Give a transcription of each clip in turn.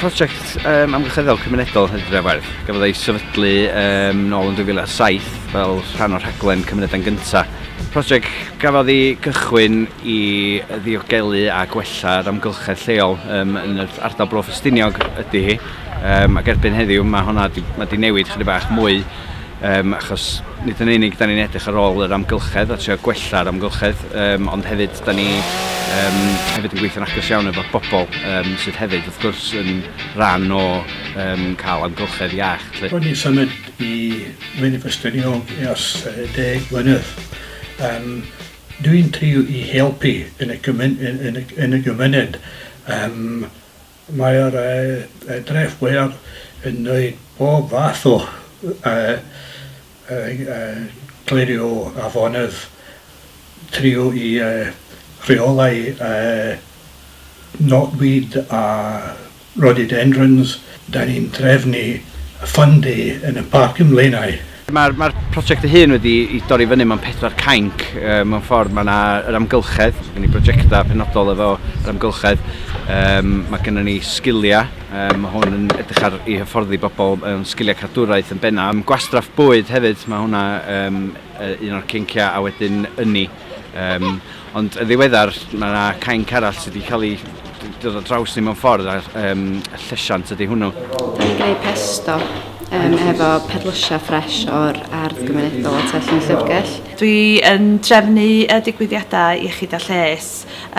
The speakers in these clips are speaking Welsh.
Prosiect um, amgylcheddol cymunedol Hydref Werdd. Gafodd ei sefydlu um, nôl yn 2007 fel rhan o'r rhaglen Cymunedau'n Gynta. Prosiect gafodd ei gychwyn i ddiogelu a gwella'r amgylchedd lleol um, yn yr ardal Bro Ffestiniog ydy hi. Um, ac erbyn heddiw mae hwnna di, mae di newid chydig bach mwy Yym, achos nid yn unig da ni'n edrych ar ôl yr amgylchedd a trio gwella'r amgylchedd, um, ond hefyd da ni um, hefyd yn gweithio'n agos iawn efo bobl um, sydd hefyd wrth gwrs yn rhan o um, cael amgylchedd iach. Lle. Roedd ni'n symud i Wyn Ffestiniog ers deg mlynedd. Um, dwi'n trio i helpu yn y, gymun, yn, yn, yn y gymuned um, Mae'r dreth fwyaf yn gwneud pob fath o glirio afonydd trwy reolau knotweed a rhododendrons. Dan ni'n trefnu ffyndu yn y Parc ym Mlaenau. Mae'r ma prosiect ei hun wedi ei dorri fyny mewn pedwar cainc. E, mewn ffordd, mae yna yr amgylchedd, mae gen i brosiectau penodol efo yr amgylchedd. E, mae gennym ni sgiliau, e, mae hwn yn edrych ar i hyfforddi bobl mewn sgiliau cadwraeth yn benna. Gwastraff bwyd hefyd, mae hwnna e, un o'r cynciau, a wedyn ynni. Um, ond y ddiweddar, mae yna cainc arall sydd wedi cael ei dod o draws ni mewn ffordd, a um, llesiant ydy hwnnw. Da ni'n gwneud pesto um, efo perlysia ffres o'r ardd gymunedol o Tell yn Llyfrgell. Dwi yn drefnu y digwyddiadau iechyd a lles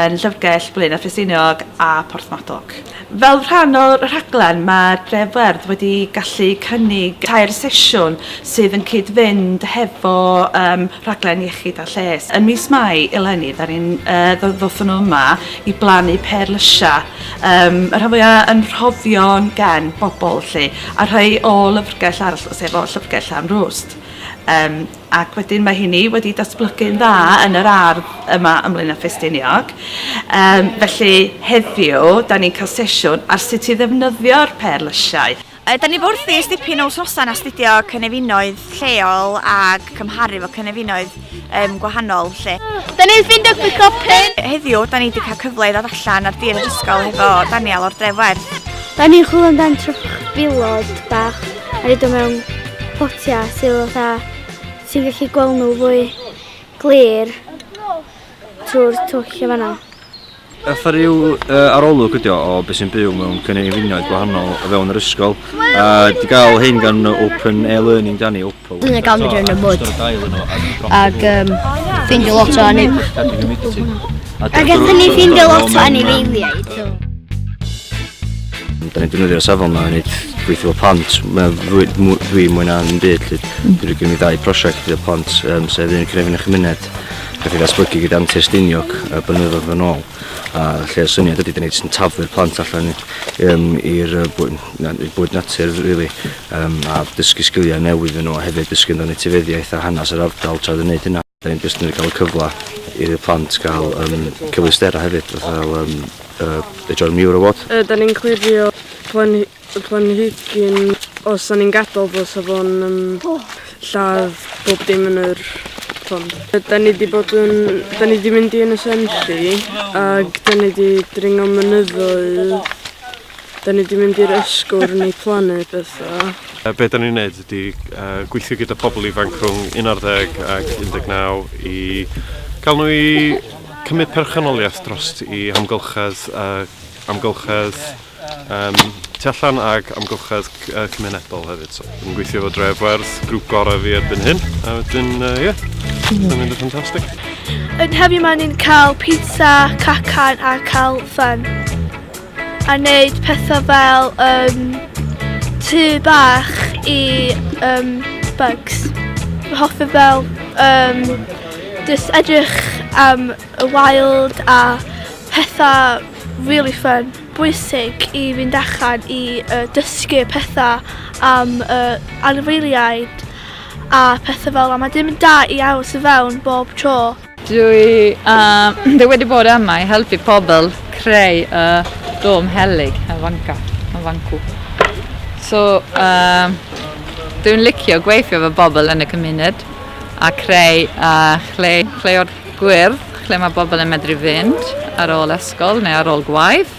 yn Llyfrgell, Blaenau Ffesiniog a Porthmadog. Fel rhan o'r rhaglen, mae'r Dref Werdd wedi gallu cynnig tair sesiwn sydd yn cyd-fynd hefo um, rhaglen iechyd a lles. Yn mis Mai eleni, da ni'n uh, ddothon nhw yma i blannu per lysiau, um, y rhan fwyaf yn rhoddion gen bobl, lle, a rhai o lyfrgell arall, sef o llyfrgell am rwst. Um, ac wedyn mae hynny wedi datblygu'n dda yn yr ardd yma ym Mlaenau Ffestiniog. Um, felly heddiw, da ni'n cael sesiwn ar sut i ddefnyddio'r pêr lysiau. Uh, da ni wrth i stipyn o wsnosau'n astudio cynefinoedd lleol ac cymharu fo cynefinoedd um, gwahanol lle. Da ni'n ffind o gwicopyn! Heddiw, da ni wedi cael cyfle i ddod allan ar dir yr ysgol hefo Daniel o'r Dref Werth. Da ni'n chwilio amdan trwch filod bach. a rhaid o mewn potiau sydd fatha sy'n gallu gweld nhw fwy glir trwy'r twll y fanna. Efo rhyw uh, arolwg ydi o o beth sy'n byw mewn cynefinoedd gwahanol o fewn yr ysgol. A di gael hyn gan Open Air Learning Danny Oppo. Dwi'n ei gael mynd yn y mwyd. Ac um, ffeindio lot o anif. Ac ydyn ni ffeindio lot o anifeiliaid. Da ni'n defnyddio safon yma i wneud gweithio fel plant. Mae'n fwy, mwy, fwy mwy na yn byd. Lly. Mm. Dwi'n rhoi gen i ddau prosiect gyda plant, um, sef un crefyn y chymuned, gath ei ddatblygu gyda Antur Steiniog a blynyddoedd yn ôl. A lle y syniad ydy, da ni jyst yn taflu'r plant allan um, i'r uh, bwyd, na, bwyd natur, really, um, a dysgu sgiliau newydd yn nhw, a hefyd dysgu amdano etifeddiaeth a hanes yr ardal tra dwi'n gwneud hynna. Da ni'n jyst yn cael y cyfle i'r plant gael um, cyfleusterau hefyd, fatha fel um, uh, y John Muir Award. Uh, da ni'n clirio plan, planhigyn os da ni'n gadael fo sa fo'n um, oh. lladd bob dim yn yr pond. Da ni wedi bod yn... Da ni wedi mynd i yn y Senfi ac da ni wedi dringo mynyddoedd Da ni 'di mynd i'r ysgol rwy'n ei plannu bethau. Be da ni'n neud ydy gweithio gyda pobl ifanc rhwng 11 ac 19 i gael nhw i cymryd perchynoliaeth dros i amgylchedd, amgylchedd um, tu allan ac amgylchedd cymunedol hefyd. So, yn gweithio fo Dref Werdd, grŵp gorau fi erbyn hyn, a wedyn, ie, uh, yeah, mm. mynd yn ffantastig. Yn heddiw maen ni'n cael pizza, cacan a cael ffyn. a wneud pethau fel um, tŷ bach i um, bugs. Hoffi fel um, just edrych am y wild a pethau really fun. Bwysig i fynd allan i uh, dysgu pethau am uh, anifeiliaid a pethau fel yma. Mae dim yn da i aros i fewn bob tro. Dwi uh, dwi wedi bod yma i helpu pobl creu y uh, dom helig yn fanca, yn fancw. So, uh, dwi'n licio gweithio fy bobl yn y cymuned a creu uh, chle, chle o'r gwyrdd lle mae bobl yn medru fynd ar ôl ysgol neu ar ôl gwaith.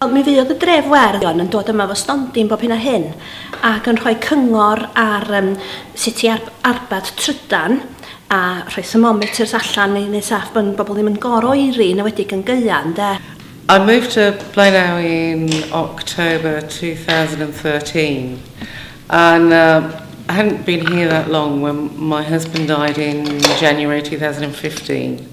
Ond mi fuodd y dref werdd Ion yn dod yma efo stondin bob hyn a hyn ac yn rhoi cyngor ar um, sut i ar arbad trydan a rhoi thermometers allan i wneud saff bod bobl ddim yn gor oeri yn ewedig yn gaeau ynde. I moved to Blaenau in October 2013 and um, I hadn't been here that long when my husband died in January 2015.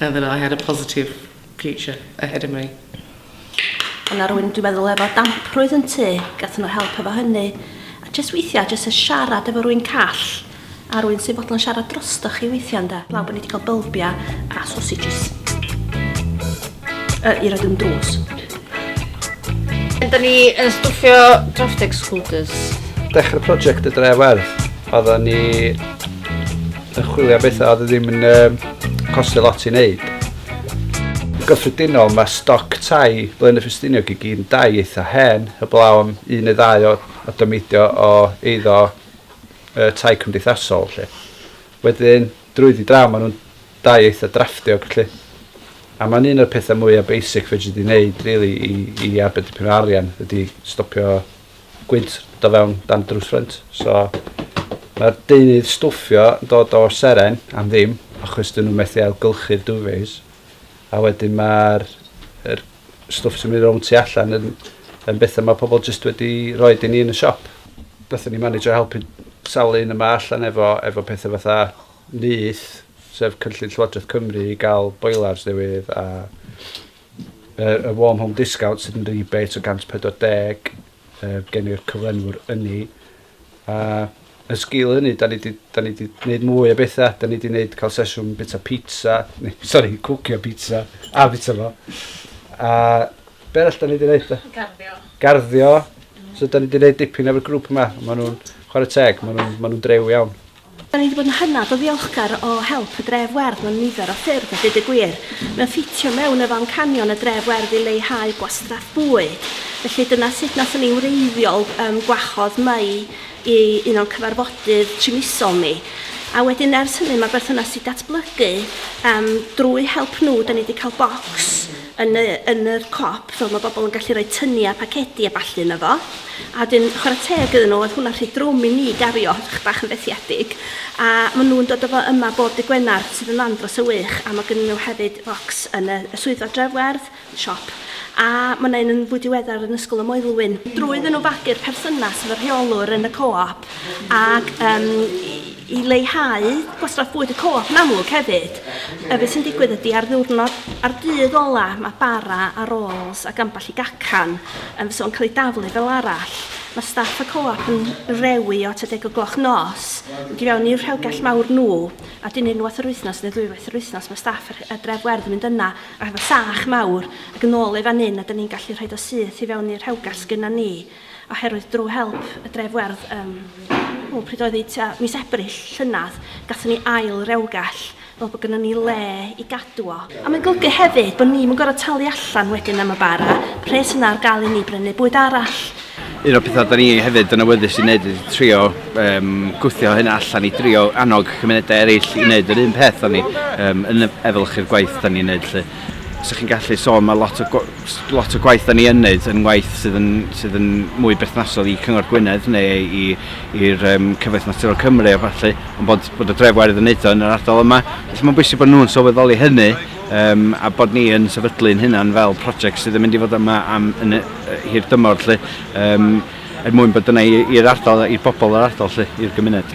And then I had a positive future ahead of me. Ond ar rwy'n dwi'n meddwl efo damprwydd yn tu, gath nhw help efo hynny. A jyst weithiau, jyst y siarad efo rwy'n call, a rwy'n sy'n fodlon siarad drostoch chi weithiau ynda. Blaw bod ni wedi cael bylbiau a sausages. Uh, I roed yn drws. Da ni yn stwffio draft excluders. Dechrau prosiect y Drewarth, oedden ni Yn chwilio am bethau oedd e ddim yn um, costio lot i wneud. Yn gyffredinol, mae stoc tai Blaenau Ffestiniog i gyd yn dai eitha hen, heblaw am un neu ddau o, o dymeidio o eiddo uh, tai cymdeithasol. Lle. Wedyn, drwyddi draw, maen nhw'n dai eitha drafftio, lle. A mae'n un o'r pethau mwyaf basic fe dwi wedi gwneud really, i, i arbed dipyn o arian ydy stopio gwynt do fewn dan drws ffrynt. So mae'r deunydd stwffio yn dod o seren am ddim achos dyn nhw methu ailgylchu'r duvets. A wedyn mae'r er stwff sy'n mynd rownd tu allan yn, yn bethau mae pobl jyst wedi rhoi i ni yn y siop. Nathon ni manage o helpu sawl un yma allan efo, efo pethau fatha nyth, sef cynllun Llywodraeth Cymru i gael boilers newydd a Yr y warm home discount sydd yn rebate o 140 yy gen i'r cyflenwr ynni a yn sgil hynny da ni 'di da ni 'di neud mwy o betha da ni 'di neud cael sesiwn bita pizza neu sori cwcio pizza a bita fo a be' arall da ni 'di neud de? Garddio. Garddio so da ni 'di neud dipyn efo'r grŵp yma ma' nw'n chware teg ma' nw'n ma' nw'n drew iawn. Da ni wedi bod yn hynod o ddiolchgar o help y Dref Werdd mewn nifer o ffyrdd a dweud y gwir, mae o'n ffitio mewn efo amcanion y Dref Werdd i leihau gwastraff bwyd. Felly dyna sut nathon ni wreiddiol um, gwahodd Mei i un o'n cyfarfodydd trimisol ni. A wedyn ers hynny mae berthynas i datblygu um, drwy help nhw da ni wedi cael bocs yn y yn yr cop fel mae bobl yn gallu rhoi tynnu a pacedi a ballu yna fo a dyn chwarae teg iddyn nhw oedd hwnna'n rhy drwm i ni gario chych bach yn fethiedig a maen nhw'n dod o fo yma bob dy Gwener sydd yn ddan dros y wych a mae gen nhw hefyd focs yn y, y swyddfa drefwerdd siop a mae yna un yn fwy diweddar yn ysgol y Moelwyn drwy iddyn nhw fagu'r perthynas efo'r rheolwr yn y co-op ac um, I leihau gwastraff bwyd y co-op yn amlwg hefyd, yy be sy'n digwydd ydy ar ddiwrnod, ar dydd ola, mae bara a rolls ac ambell i gacan yn fysa fo'n cael ei daflu fel arall. Mae staff y co-op yn rewi o tua deg o gloch nos, mynd i fewn i'r rhewgell mawr nhw, a dyn unwaith yr wythnos neu ddwywaith yr wythnos mae staff y, y dref werdd yn mynd yna ac efo sach mawr ac yn ôl ei fan hyn a dyn ni'n gallu rhoid o syth i fewn i'r rhewgell sgynna ni. Oherwydd drwy help y Dref Werdd, ym, o, pryd oedd hi, tua mis Ebrill, llynedd, gatho ni ail rewgell, fel bod gyda ni le i gadw o. A mae'n golygu hefyd bod ni'm yn gorfod talu allan wedyn am y bara, pres yna ar gael i ni brynu bwyd arall. Un o'r pethau da ni hefyd yn awyddus i wneud ydy trio um, gwthio hynna allan i drio annog cymunedau eraill i wneud yr un peth o'n ni um, yn efelychu'r gwaith da ni'n wneud lle. 'sa chi'n gallu sôn ma' lot o gw- s- lot o gwaith 'dan ni yn neud yn waith sydd yn sydd yn mwy berthnasol i Cyngor Gwynedd neu i i'r yym Cyfoeth Naturiol Cymru a ballu ond bod bod y Dref Wairedd yn neud o yn yr ardal yma felly ma'n bwysig bod nhw'n sylweddoli hynny yym a bod ni yn sefydlu'n hunan fel project sydd yn mynd i fod yma am yn y yy hir dymor lly yym er mwyn bod yna i i'r ardal i'r bobol yr ardal lly i'r gymuned.